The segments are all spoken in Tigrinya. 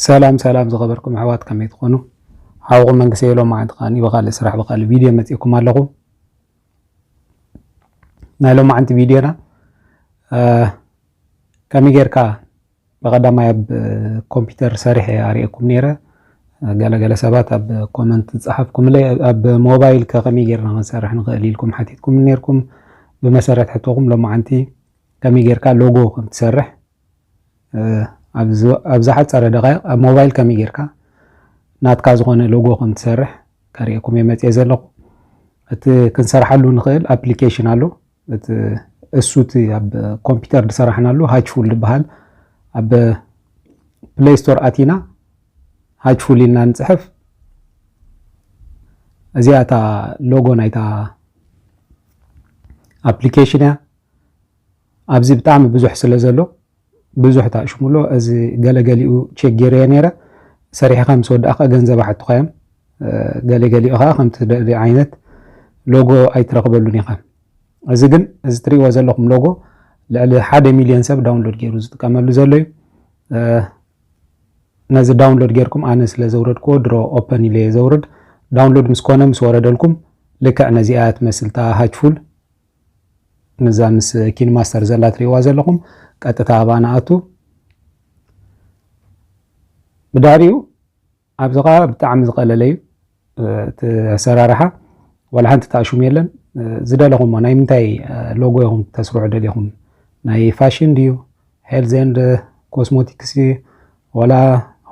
ሰላም ሰላም ዝኸበርኩም ኣሕዋት ከመይ ትኾኑ? ሓውኹም መንግስቲ የሎም መዓንቲ ከዓኒ ብካልእ ስራሕ ብካልእ ቪድዮ መፂእኩም ኣለኹ። ናይ ሎማዓንቲ ቪድዮና ከመይ ጌርካ ብቀዳማይ ኣብ ኮምፒተር ሰሪሐ እየ ኣሪኤኩም ነይረ ገለ ገለ ሰባት ኣብ ኮመንት ዝጸሓፍኩምለይ ኣብ ሞባይል ከ ከመይ ጌርና ክንሰርሕ ንኽእል ኢልኩም ሓቲትኩምኒ ነይርኩም ብመሰረት ሕቶኹም ሎማዓንቲ ከመይ ጌርካ ሎጎ ከም ትሰርሕ ኣብ ዝሓጸረ ደቃይቕ ኣብ ሞባይል ከመይ ጌርካ ናትካ ዝኾነ ሎጎ ከም ትሰርሕ ከሪኤኩም እየ መጽኤ ዘለኹ እቲ ክንሰርሓሉ ንኽእል ኣፕሊኬሽን ኣሎ እቲ እሱ እቲ ኣብ ኮምፒተር ዝሰራሕናሉ ሃችፉል ዝበሃል ኣብ ፕሌይ ስቶር ኣቲና ሃችፉል ኢልና ንፅሕፍ እዚኣ እታ ሎጎ ናይታ ኣፕሊኬሽን እያ ኣብዚ ብጣዕሚ ብዙሕ ስለ ዘሎ ብዙሕ ታእሽሙሎ እዚ ገለ ገሊኡ ቼክ ጌረዮ ኔረ ሰሪሕኻ ምስ ወዳእካ ገንዘብ ኣሓቱኻዮም ገለ ገሊኡ ከኣ ከምቲ ትደልዮ ዓይነት ሎጎ ኣይትረኽበሉን ኢኻ እዚ ግን እዚ ትሪእዎ ዘለኹም ሎጎ ልዕሊ ሓደ ሚልዮን ሰብ ዳውንሎድ ጌሩ ዝጥቀመሉ ዘሎ እዩ ነዚ ዳውንሎድ ጌርኩም ኣነ ስለ ዘውረድክዎ ድሮ ኦፐን ኢለ እየ ዘውርድ ዳውንሎድ ምስ ኮነ ምስ ወረደልኩም ልክዕ ነዚኣ ትመስል እታ ሃችፉል ነዛ ምስ ኪን ማስተር ዘላ ትሪእዋ ዘለኹም ቀጥታ ኣብኣ ንኣቱ ብድሕሪኡ ኣብዚ ከዓ ብጣዕሚ ዝቀለለ እዩ እቲ ኣሰራርሓ ዋላ ሓንቲ ተኣሽሙ የለን ዝደለኹሞ ናይ ምንታይ ሎጎ ኢኹም ተስርሑ ደሊኹም ናይ ፋሽን ድዩ ሄልዝ ኤንድ ኮስሞቲክስ ድዩ ዋላ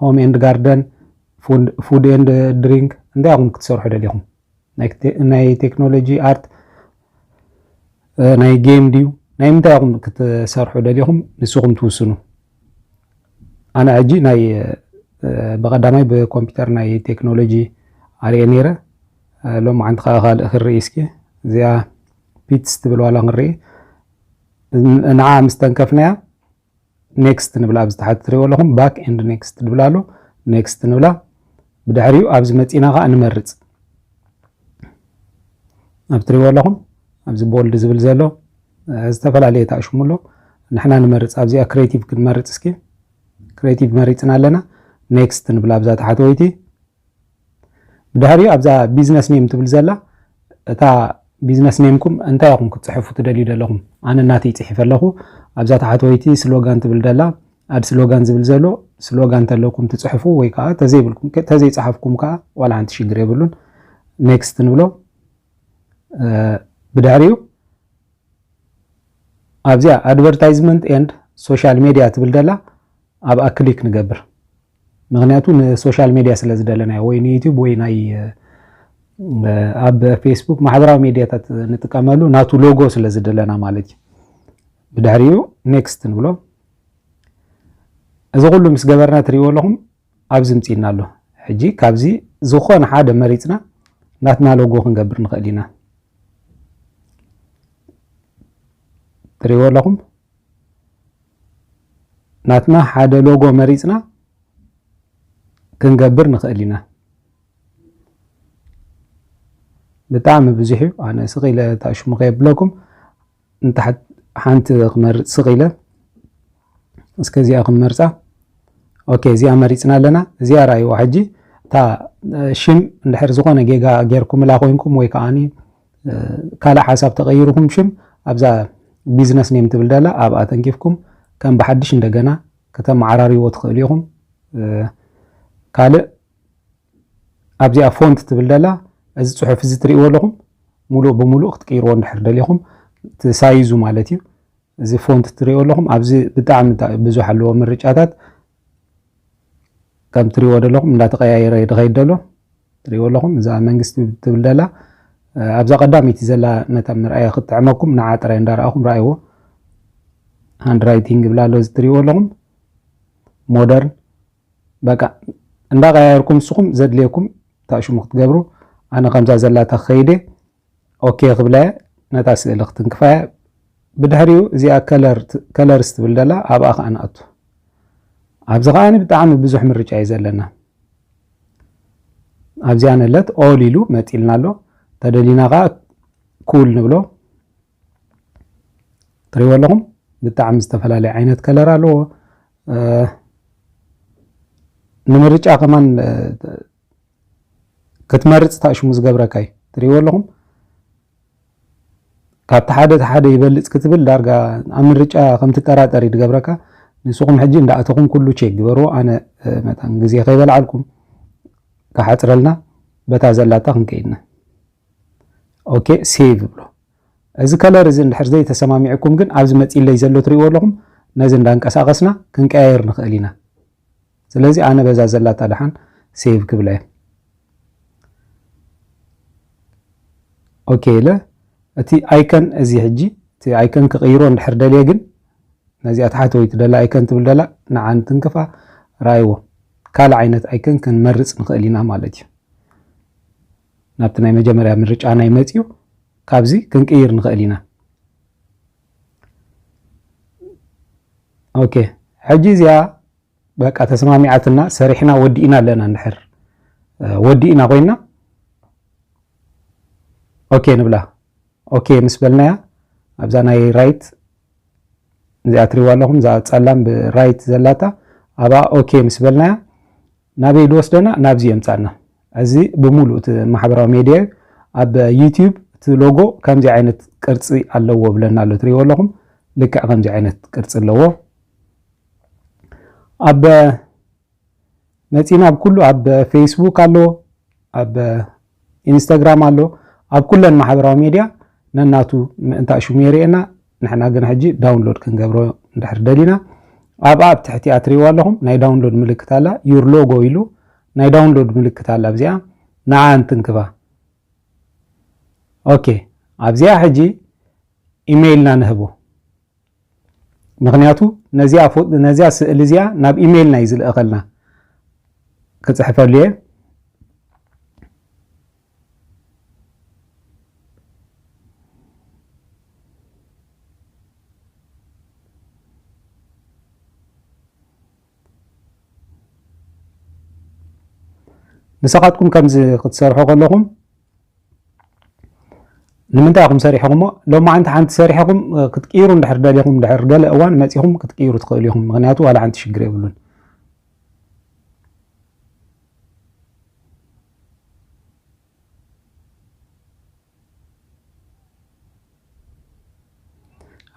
ሆም ኤንድ ጋርደን ፉድ ኤንድ ድሪንክ እንታይ ኢኹም ክትሰርሑ ደሊኹም ናይ ቴክኖሎጂ ኣርት ናይ ጌም ድዩ ናይ ምንታይ ኢኹም ክትሰርሑ ደሊኹም ንስኹም ትውስኑ። ኣነ ሕጂ ናይ ብቐዳማይ ብኮምፒውተር ናይ ቴክኖሎጂ ኣርየ ነይረ ሎም ዓንቲ ከዓ ካልእ ክርኢ እስኪ እዚኣ ፒትስ ትብል ዋላ ክንርኢ ንዓ ምስ ተንከፍናያ ኔክስት ንብላ ኣብዚ ታሕቲ ትሪእዎ ኣለኹም ባክ ኤንድ ኔክስት ድብል ኣሎ ኔክስት ንብላ ብድሕሪኡ ኣብዚ መፂና ከዓ ንመርፅ ኣብ ትሪእዎ ኣለኹም ኣብዚ ቦልድ ዝብል ዘሎ ዝተፈላለየ ተኣሽሙ ኣሎ ንሕና ንመርፅ ኣብዚኣ ክሬቲቭ ክንመርፅ እስኪ ክሬቲቭ መሪፅና ኣለና ኔክስት ንብላ ኣብዛ ታሕተወይቲ ብድሕሪኡ ኣብዛ ቢዝነስ ኔም ትብል ዘላ እታ ቢዝነስ ኔምኩም እንታይ ኢኹም ክትጽሕፉ ትደልዩ ዘለኹም ኣነ ናተይ ጽሒፈ ኣለኹ ኣብዛ ታሕተወይቲ ስሎጋን ትብል ደላ ኣድ ስሎጋን ዝብል ዘሎ ስሎጋን ተለኩም ትጽሕፉ ወይ ከዓ ተዘይብልኩም ተዘይጽሓፍኩም ከዓ ዋላ ሓንቲ ሽግር የብሉን ኔክስት ንብሎ ብድሕሪኡ ኣብዚኣ ኣድቨርታይዝመንት ኤንድ ሶሻል ሜድያ ትብል ደላ ኣብኣ ክሊክ ንገብር ምክንያቱ ንሶሻል ሜድያ ስለ ዝደለናዮ ወይ ንዩቱብ ወይ ናይ ኣብ ፌስቡክ ማሕበራዊ ሜድያታት ንጥቀመሉ ናቱ ሎጎ ስለ ዝደለና ማለት እዩ ብድሕሪኡ ኔክስት ንብሎ እዚ ኩሉ ምስ ገበርና ትሪእዎ ኣለኹም ኣብዚ ምፅና ኣሎ ሕጂ ካብዚ ዝኾነ ሓደ መሪፅና ናትና ሎጎ ክንገብር ንኽእል ኢና ትሪእዎ ኣለኹም ናትና ሓደ ሎጎ መሪጽና ክንገብር ንኽእል ኢና። ብጣዕሚ ብዙሕ እዩ ኣነ ስቕ ኢለ እታ ሽሙ ከየብለኩም ንታሕት ሓንቲ ክመርጽ ስቕ ኢለ እስከ እዚኣ ክንመርጻ ኦኬ እዚኣ መሪጽና ኣለና እዚኣ ርኣይዋ ሕጂ እታ ሽም እንድሕር ዝኾነ ጌጋ ጌርኩምላ ኮንኩም ወይ ከዓኒ ካልእ ሓሳብ ተቀይርኩም ሽም ኣብዛ ቢዝነስ ኔም ትብል ደላ ኣብኣ ተንኪፍኩም ከም ብሓድሽ እንደገና ከተመዓራርይዎ ትኽእሉ ኢኹም። ካልእ ኣብዚኣ ፎንት ትብል ደላ እዚ ፅሑፍ እዚ ትርእይዎ ኣለኹም ሙሉእ ብሙሉእ ክትቅይርዎ እንድሕር ደሊኹም ሳይዙ ማለት እዩ እዚ ፎንት ትርእይዎ ኣለኹም ኣብዚ ብጣዕሚ ብዙሕ ኣለዎ ምርጫታት ከም ትሪዎ ደለኹም እንዳተቀያየረ እዩ ድኸይድ ደሎ ትሪዎ ኣለኹም እዛ መንግስቲ ትብል ደላ ኣብዛ ቀዳሚቲ ዘላ ነታ ምርኣያ ክትጥዕመኩም ንዓ ጥራይ እንዳረኣኹም ረኣይዎ ሃንድ ራይቲንግ ብላ ኣሎ እዚ ትሪዎ ኣለኹም ሞደርን በቃ እንዳቀያየርኩም ንስኹም ዘድልየኩም ታሽሙ ክትገብሩ ኣነ ከምዛ ዘላታ ከይደ ኦኬ ክብላ'የ ነታ ስእሊ ክትንክፋ'የ ብድሕሪኡ እዚኣ ከለርስ ትብል ዘላ ኣብኣ ከኣ ንኣቱ ኣብዚ ከኣ ብጣዕሚ ብዙሕ ምርጫ እዩ ዘለና ኣብዚኣ ነለት ኦል ኢሉ መጢልና ኣሎ ተደሊና ከኣ ኩል ንብሎ ትሪእዎ ኣለኹም ብጣዕሚ ዝተፈላለየ ዓይነት ከለር ኣለዎ ንምርጫ ከማን ክትመርጽ ታእሽሙ ዝገብረካ እዩ ትሪእዎ ኣለኹም ካብቲ ሓደ እቲ ሓደ ይበልፅ ክትብል ዳርጋ ኣብ ምርጫ ከም ትጠራጠር እዩ ዝገብረካ ንስኹም ሕጂ እንዳእተኹም ኩሉ ቼክ ግበርዎ ኣነ መታን ግዜ ከይበልዓልኩም ክሓፅረልና በታ ዘላታ ክንከይድና ኦኬ ሴቭ ብሎ እዚ ከለር እዚ እንድሕር ዘይተሰማሚዕኩም ግን ኣብዚ መፂለይ ዘሎ ትሪእዎ ኣለኹም ነዚ እንዳንቀሳቐስና ክንቀያየር ንኽእል ኢና ስለዚ ኣነ በዛ ዘላታ ደሓን ሴቭ ክብላ እየ ኦኬ ኢለ እቲ ኣይከን እዚ ሕጂ እቲ ኣይከን ክቕይሮ እንድሕር ደልየ ግን ነዚኣ ተሓተዊት ደላ ኣይከን ትብል ደላ ንዓ ንትንክፋ ራይዎ ካልእ ዓይነት ኣይከን ክንመርፅ ንኽእል ኢና ማለት እዩ ናብቲ ናይ መጀመርያ ምርጫ ናይ መፅኡ ካብዚ ክንቅይር ንኽእል ኢና ኦኬ ሕጂ እዚኣ በቃ ተስማሚዓትና ሰሪሕና ወዲእና ኣለና እንድሕር ወዲእና ኮይና ኦኬ ንብላ ኦኬ ምስ በልናያ ኣብዛ ናይ ራይት እዚኣ ትሪዋ ኣለኹም እዛ ፀላም ብራይት ዘላታ ኣብኣ ኦኬ ምስ በልናያ ናበይ ዝወስደና ናብዚ የምፃና እዚ ብምሉእ እቲ ማሕበራዊ ሜድያ እዩ ኣብ ዩትዩብ እቲ ሎጎ ከምዚ ዓይነት ቅርፂ ኣለዎ ብለና ኣሎ ትሪዎ ኣለኹም ልክዕ ከምዚ ዓይነት ቅርፂ ኣለዎ ኣብ መጺና ኣብ ኩሉ ኣብ ፌስቡክ ኣሎ፣ ኣብ ኢንስታግራም ኣሎ፣ ኣብ ኩለን ማሕበራዊ ሜድያ ነናቱ ምእንታእ ሽሙ የርእየና። ንሕና ግን ሕጂ ዳውንሎድ ክንገብሮ እንድሕር ደሊና ኣብኣ ኣብ ትሕቲ ኣትሪእዋ ኣለኹም ናይ ዳውንሎድ ምልክት ኣላ ዩር ሎጎ ኢሉ ናይ ዳውንሎድ ምልክት ኣላ ኣብዚኣ ንዓ እንትንክባ ኦኬ ኣብዚኣ ሕጂ ኢሜይልና ንህቦ ምኽንያቱ ነዚኣ ስእሊ እዚኣ ናብ ኢሜይልና እዩ ዝልእኸልና ክፅሕፈሉ እየ ንስኻትኩም ከምዚ ክትሰርሑ ከለኹም ንምንታይ ኢኹም ሰሪሕኹሞ ሎማዓንቲ ሓንቲ ሰሪሕኹም ክትቅይሩ እንድሕር ደሊኹም እንድሕር ገለ እዋን መፂኹም ክትቅይሩ ትኽእሉ ኢኹም ምክንያቱ ዋላ ሓንቲ ሽግር የብሉን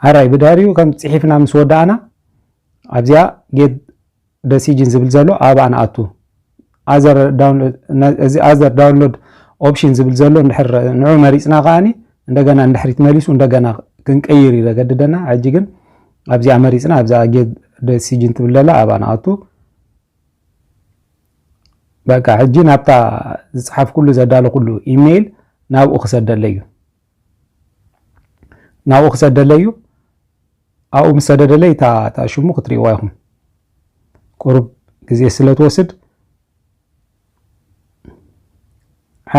ዓራይ ብድሕሪኡ ከም ፅሒፍና ምስ ወዳእና ኣብዚኣ ጌት ደሲጅን ዝብል ዘሎ ኣብኣ ንኣቱ። ኣዘር ዳውንሎድ እዚ ኣዘር ዳውንሎድ ኦፕሽን ዝብል ዘሎ እንድሕር ንዑ መሪጽና ከኣኒ እንደገና እንድሕሪት መሊሱ እንደገና ክንቀይር እዩ ዘገድደና። ሕጂ ግን ኣብዚኣ መሪጽና ኣብዛ ጌት ደሲጅን ትብል ዘላ ኣብኣ ንኣቱ። በቃ ሕጂ ናብታ ዝጸሓፍኩሉ ዘዳለኹሉ ኢሜይል ናብኡ ክሰደለይ እዩ። ናብኡ ክሰደለይ እዩ ኣብኡ ምስ ሰደደለይ እታ ሽሙ ክትሪእዋ ይኹም ቁሩብ ግዜ ስለ ትወስድ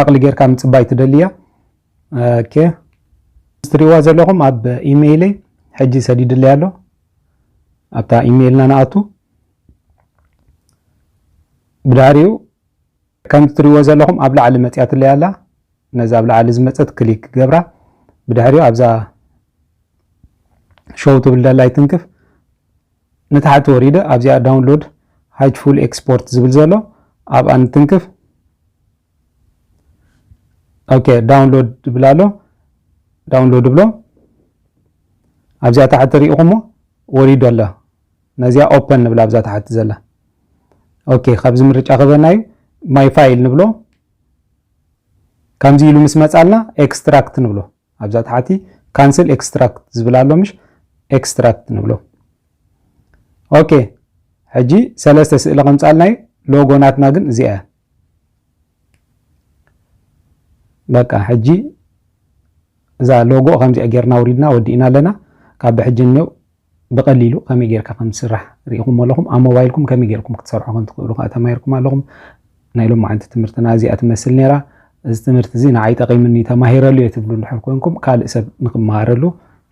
ዓቕሊ ጌርካ ምፅባይ ትደልያ ኦኬ ትሪእዋ ዘለኹም ኣብ ኢሜይለይ ሕጂ ሰዲድለይ ኣሎ ኣብታ ኢሜይልና ንኣቱ ብድሕሪኡ ከምቲ ትሪእዎ ዘለኹም ኣብ ላዕሊ መጽያትለይ ኣላ ነዛ ኣብ ላዕሊ ዝመጸት ክሊክ ክገብራ ብድሕሪኡ ኣብዛ ሾው ትብል ደላይ ትንክፍ ንታሕቲ ወሪደ ኣብዚኣ ዳውንሎድ ሃጅ ፉል ኤክስፖርት ዝብል ዘሎ ኣብኣ ንትንክፍ ኦኬ ዳውንሎድ ይብል ኣሎ ዳውንሎድ ብሎ ኣብዚኣ ታሕቲ ሪኢኹሞ ወሪዱ ኣሎ ነዚኣ ኦፐን ንብላ ኣብዛ ታሕቲ ዘላ ኦኬ ካብዚ ምርጫ ክበና እዩ ማይ ፋይል ንብሎ ከምዚ ኢሉ ምስ መጻልና ኤክስትራክት ንብሎ ኣብዛ ታሕቲ ካንስል ኤክስትራክት ዝብል ኣሎ ምሽ ኤክስትራክት ንብሎ ኦኬ ሕጂ ሰለስተ ስእሊ ከምጻልና እዩ ሎጎ ናትና ግን እዚኣ እያ በቃ ሕጂ እዛ ሎጎ ከምዚኣ ጌርና ውሪድና ወዲእና ኣለና ካብ ብሕጂ እኒው ብቐሊሉ ከመይ ጌርካ ከም ዝስራሕ ርኢኹሞ ኣለኹም። ኣብ ሞባይልኩም ከመይ ጌርኩም ክትሰርሑ ከም ትኽእሉ ከኣ ተማሂርኩም ኣለኹም። ናይ ሎማዓንቲ ትምህርትና እዚኣ ትመስል ኔራ። እዚ ትምህርቲ እዚ ንዓይ ጠቒሙኒ ተማሂረሉ እየ ትብሉ እንድሕር ኮንኩም ካልእ ሰብ ንኽመሃረሉ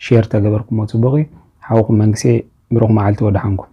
ሼር ተገበርኩሞ ጽቡቕ እዩ። ሓውኹም መንግሴ ብሩኽ መዓልቲ ወደሓንኩም።